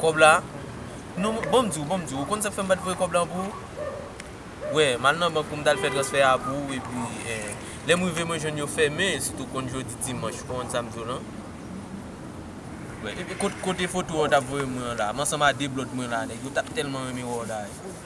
Kòb la Non bon m di w bon m di w ou konn sa k fè m pa t voye kòb la pou ou Wè m al nan bank pou m t al fè transfè a pou ou epi lè m rive mwen jwenn yo fèmen sitou konn jodi dimanch konn sa m di w lan Wè epi kote foto a ou t ap voye mwen an la m ansanm a de blòd mwen la nèg yo t ap tèlman renmen wè w la.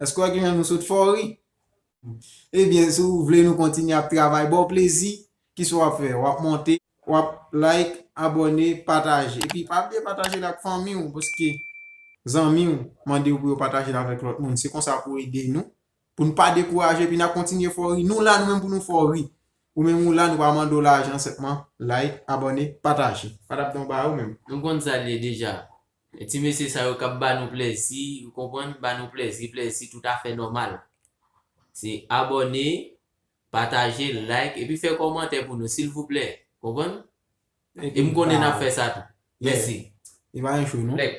Eske w wè ki jan nou sot fè w ri? Ebyen, si w vle nou kontinye ap travay ba w plezi, ki sa w ap fè? W ap monte, w ap like, abòne, pataje. Epi pa bliye pataje l ak fanmi w paske zanmi w mande w pou yo pataje l avèk lòt moun. Se konsa pou w ede nou, pou nou pa dekouraje epi n ap kontinye fè w ri. Nou la nou menm pou nou fè w ri. Ou menm ou la, nou pa mande w lajan, senpman like, abòne, pataje. Patap Don ba ou menm. Nou konn sa l ye deja. E ti mesye sa yo kap ba nou plèzi ou konprann ba nou plèzi plèzi tout afè nòmal se abòne pataje like epi fè kòmantè pou nou silvouplè konprann e m konnen nap fè sa tou mèsi e pa yon show non like.